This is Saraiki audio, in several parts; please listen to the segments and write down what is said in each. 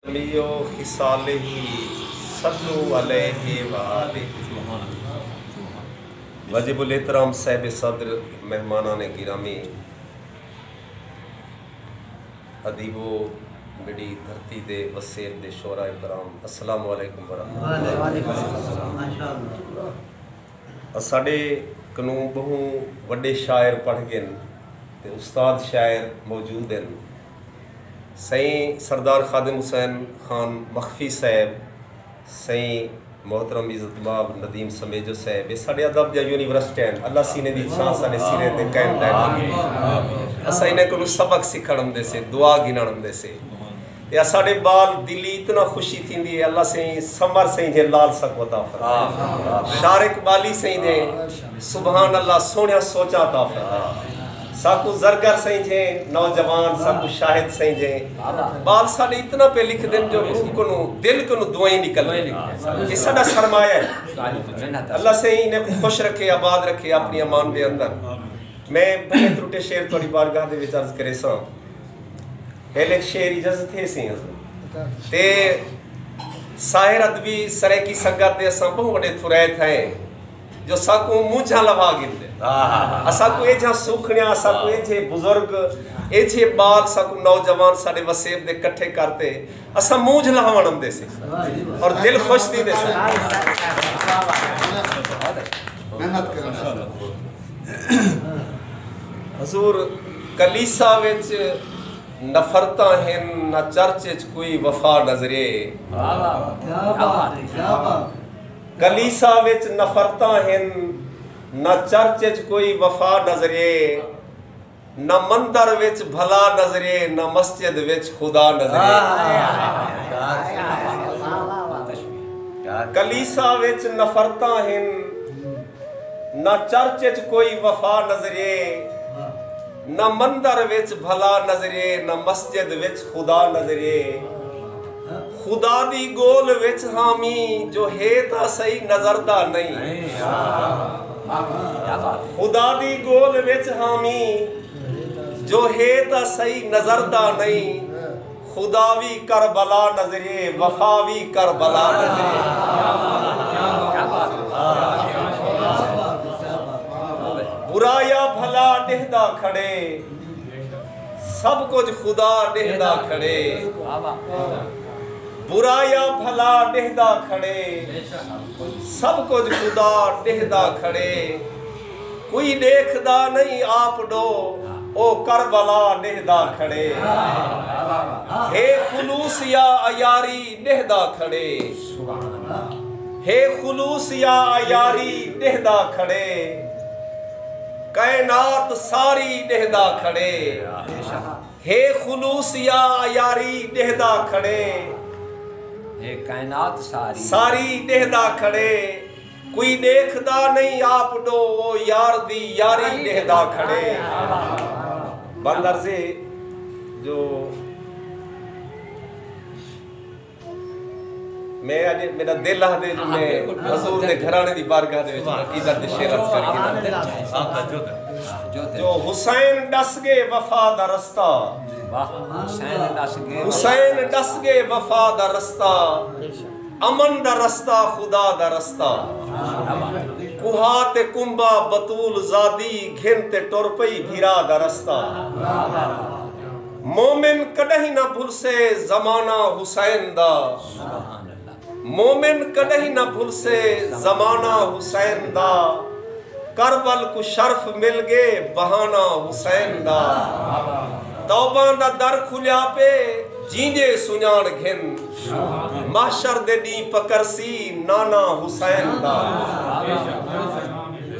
علیہ و خصالہ صلو علیہ و آلہ۔ واجب الاحترام صاحب صدر، مہمانان گرامی، ادیبو، میݙی دھرتی دے وسیب دے شعراء کرام، السلام علیکم و رحمۃ اللہ۔ اساݙے کنوں ٻہوں وݙے شاعر پڑھ ڳن تے استاد شاعر موجود ہن۔ سئیں سردار خادم حسین خان مخفی صاحب، سئیں محترم عزت مآب ندیم سمیجو صاحب اے ساڈے ادب دیاں یونیورسٹیاں ہن اللہ سینے دی چھاں ساڈے سریں تے قائم دائم رکھے اساں انہاں کولوں سبق سکھن امدے سے دعا گھنن امدے سے تے اساڈے بال دلی اتنا خوشی تھیندی اے اللہ سئیں سمر سئیں جھے لال سکو عطا فرمائے شار اقبالی سئیں دے سبحان اللہ سوہنیاں سوچاں عطا فرمائے۔ ساکوں زرگر سئیجھیں نوجوان ساکوں شاہد سئیجھیں ٻال ساݙے اتنا پئے لکھدن جو روح کنوں دل کنوں دعائیں نکلدن اے ساݙا سرمایہ اے اللہ سئیں انھاں کوں خوش رکھے آباد رکھے آپݨی امان دے اندر میں بھلے ترٹے شعر تہاݙی بارگاہ دے وچ عرض کریساں ہیل ہک شعر اجازت ہیسی حضور تے ساحر ادبی سرائیکی سنگت دے اساں ٻہوں وݙے تھرائے تھئیں جو ساکوں مونجھاں لوا گھندے اساکوں ایجھا سوکھنیاں اساکوں ایجھے بزرگ ایجھے بال ساکوں نوجوان ساڈے وسیب دے کٹھے کرتے اساں مونجھ لہوان اندے سے اور دل خوش تھی دے سے محنت کرنا حضور کلیسا وچ نفرتاں ہن نہ چرچ وچ کوئی وفا نظرے کلیسا وچ نفرتاں ہن، نہ چرچ وچ کوئی وفا نظریے، نہ مندر وچ بھلا نظریے، نہ مسجد وچ خدا نظریے۔ کلیسا وچ نفرتاں ہن، نہ چرچ وچ کوئی وفا نظریے۔ نہ مندر وچ بھلا نظریے نہ مسجد وچ خدا نظریے خدا دی گول وچ ہاں می جو ہے تاں سئی نظر دا نئیں خدا دی گول وچ ہاں می جو ہے تاں سئی نظر دا نئیں خدا وی کربلا نظرے وفا وی کربلا نظرےبرا یا بھلا ݙہدا کھڑے سب کجھ خدا ݙہدا کھڑےبرا یا بھلا ݙہدا کھڑے سب کجھ خدا ݙہدا کھڑے کوئی ݙیکھدا نئیں آپ ݙو او کربلا ݙیہدا کھڑے ہے خلوص یا عیاری ݙیہدا کھڑے ہے خلوص یا عیاری ݙیہدا کھڑے کائنات ساری ݙیہدا کھڑے ہے خلوص یا عیاری ݙیہدا کھڑے ساری ݙیہدا کھڑے۔ کوئی ڈیکھدا نئیں آپ ڈو او یار دی یاری ڈیہدا کھڑے بند عرض ہے جو میں اج میرا دل آہدے جو میں حضور دے گھرانے دی بارگاہ دے وچ عقیدت دے شعر عرض کر کے جو حسین ڈس گے وفا دا رستہ حسین ڈس گے وفا دا رستہ امن دا رستہ خدا دا رستہ کوہا تے کنبہ بتول زادی گھن تے ٹر پئی بھرا دا رستہ مومن کڈہیں نہ بھلسے زمانہ حسین دا مومن کڈہیں نہ بھلسے زمانہ حسین دا کربل کوں شرف مل گے بہانہ حسین دا توباں دا در کھلیا پے جیندے سنڄاݨ گھن محشر دے ݙینہہ پکرسی نانا حسین دا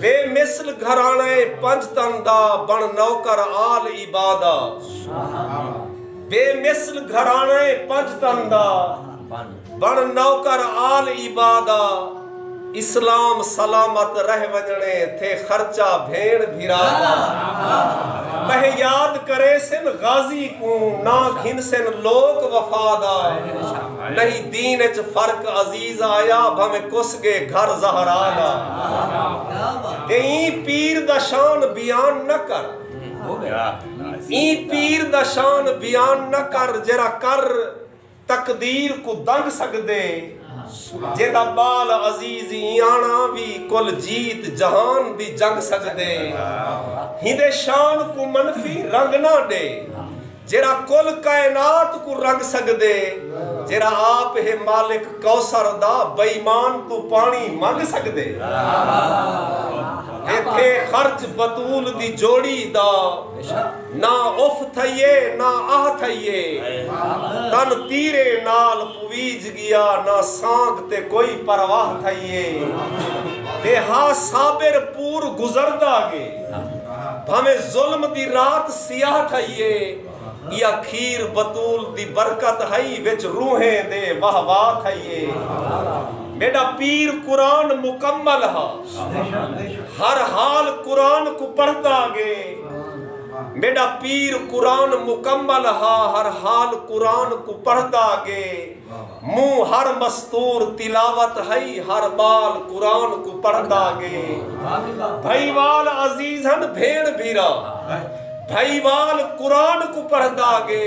بے مثل گھراݨہ اے پنج تن دا بݨ نوکر آل عبا دا بے مثل گھراݨہ اے پنج تن دا۔ بݨ نوکر آل عبادہ اسلام سلامت رہ ونڄݨے تھے خرچہ بھیݨ بھرا دا ٻہہ یاد کریسن غازی کوں نہ گھنسن لوک وفا دا نہیں دین اچ فرق عزیز آیا بھانویں کس ڳے گھر زہرا دا اے ایں پیر دا شان بیان نہ کر ایں پیر دا شان بیان نہ کر جیرھا کر تقدیر کوں دنگ سگدے جیندا بال عزیز ایانا وی کل جیت جہان دی جنگ سگدے ہیندے شان کوں منفی رنگ نہ ڈے جیرا کل کائنات کوں رنگ سگدے جیرا آپ ہے مالک کوثر دا بئیمان توں پانی منگ سگدے ایتھے خرچ بتول دی جوڑی دا نہ اف تھئیے نہ آہ تھئیے۔ تن تیریں نال پویج گیا نہ سانگ تے کوئی پرواہ تھئیے۔ تے ہا صابر پور گزردا گے۔ بھانویں ظلم دی رات سیاہ تھئیے۔ یا کھیر بتول دی برکت ہئی وچ روحیں دے واہ واہ تھئیے۔ میڈا پیر قرآن مکمل ہا۔ ہر حال قرآن کوں پڑھدا گے۔ میݙا پیر قرآن مکمل ہا ہر حال قرآن کوں پڑھدا گے مونہہ ہر مستور تلاوت ہئی ہر ٻال قرآن کوں پڑھدا گے بھئی وال عزیز ہن بھیݨ بھیرا بھئی وال قرآن کوں پڑھدا گے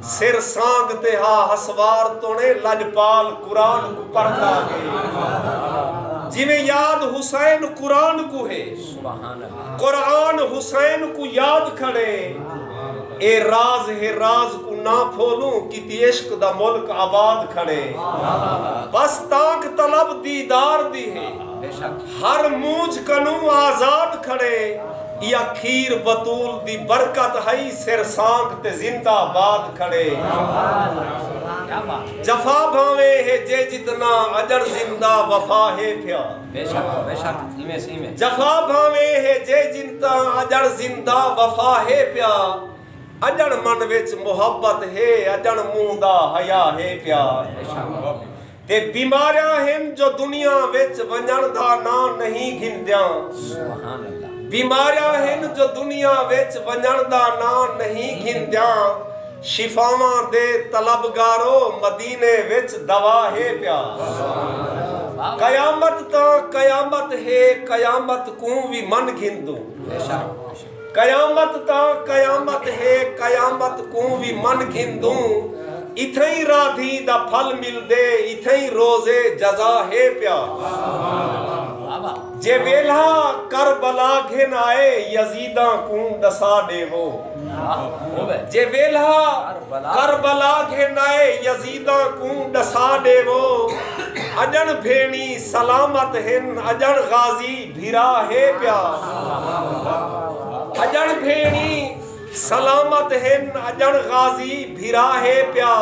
سر سانگ تے ہا ہسوار توݨے لجپال قرآن کوں پڑھدا گے جیویں یاد حسین قرآن کوں ہے قرآن حسین کو یاد کھڑے اے راز ہے راز کو نہ پھولوں کیتی عشق دا ملک آباد کھڑے بس تانکھ طلب دیدار دی ہے ہر مونجھ کنوں آزاد کھڑے یا کھیر بتول دی برکت ہئی سر سانکھ تے زندہ باد کھڑے جفا بھانویں ہے جے جتنا اجڑ زندہ وفا ہے پھیا۔ بے شک بے شک ایویں سی ایویں۔ جفا بھانویں ہے جے جن تاں اجڑ زندہ وفا ہے پیا اجڑ من وچ محبت ہے اجڑ منہ دا حیا ہے پیا تے بیماریاں ہن جو دنیا وچ ونجن دا ناں نہیں گھندیاں بیماریاں ہن جو دنیا وچ ونجن دا ناں نہیں گھندیاں۔ شفاواں دے طلبگارو مدینے وچ دوا ہے پیا قیامت تاں قیامت ہے قیامت کوں وی من گھندوں قیامت تاں قیامت ہے قیامت کوں وی من گھندوں اتھئیں رادھی دا پھل ملدے اتھئیں روز جزا ہے پیا جے ویلھا کربلا گھن آئے یزیداں کوں ڈسا ڈیوو۔ جے ویلھا کربلا گھنائے یزیداں کوں ڈسا ڈیوو اجن بھینی سلامت ہن اجن غازی بھرا ہے پیا اجن بھینی سلامت ہن اجن غازی بھرا ہے پیا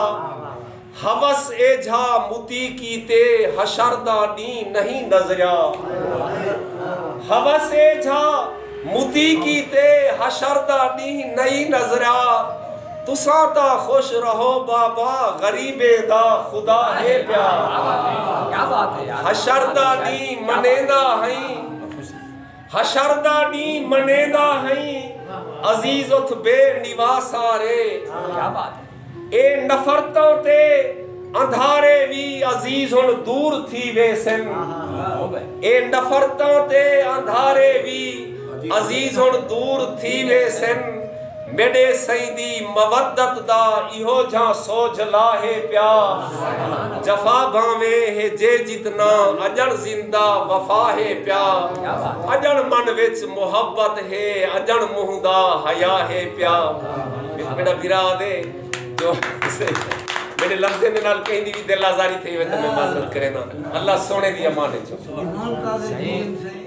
حوس ایجھا متی کیتے حشر دا ڈینہہ نہیں نظریا حوس ایجھا متی کیتے حشر دا ڈینہہ نہیں نظریا تساں تاں خوش رہو بابا غریبیں دا خدا ہے پیا حشر دا ڈینہہ منیندا ہئیں حشر دا ݙینہ منیندا ہئیں عزیز اتھ بے نواسارے اے نفرتاں تے اندھارے وی عزیز ہن دور تھی ویسن اے نفرتاں تے اندھارے وی عزیز ہن دور تھی ویسن۔ میݙے سیدی مودت دا ایہو جھاں سوجھلا ہے پیا جفا بھانویں ہے جے جتنا اڄݨ زندہ وفا ہے پیا اڄݨ من وچ محبت ہے اڄݨ منہ دا حیا ہے پیا وچ میݙا بھرا آہدے جو میݙے لفظیں دے نال کہیں دی وی دل آزاری تھئی ہووے تاں میں معذرت کرینداں اللہ سوہݨے دی امان وچ ہووے۔